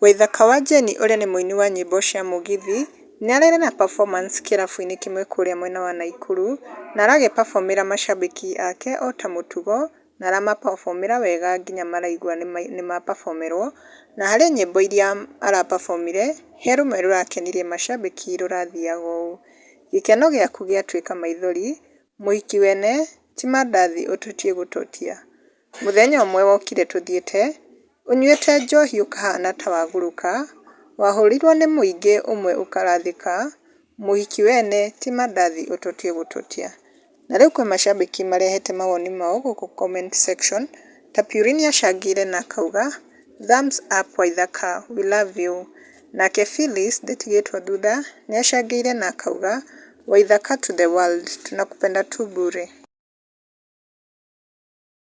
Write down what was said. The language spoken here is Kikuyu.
Waithaka wa Jane ũrĩa nĩ mũini wa nyĩmbo cia Mũgithi nĩ ararĩ na performance kĩrabu-inĩ kĩmwe kũrĩa mwena wa Naikuru na aragĩ performera macambĩki ake ota mũtugo na arama performera wega nginya maraigua nĩ ma performerwo na harĩ nyĩmbo iria ara performire he rũmwe rũrakenirie macambĩki rũrathiaga ũũ, gĩkeno gĩaku gĩatuĩka maithori Mũhiki wene ti mandathi ũtotie gũtotia. Mũthenya ũmwe wokire tũthiĩte, ũnyuĩte njohi ũkahana ta wagũrũka, wahũrirwo nĩ mũingĩ ũmwe ũkarathĩka, mũhiki wene ti mandathi ũtotie gũtotia. Na rĩu kwĩ macambĩki marehete mawoni mao gũkũ comment section. Tapuri nĩacangĩire na akauga, Thumbs up Waithaka, we love you. Nake Phyllis ndĩtigĩtwo thutha nĩacangĩire na akauga, Waithaka to the world, tunakupenda tu bure.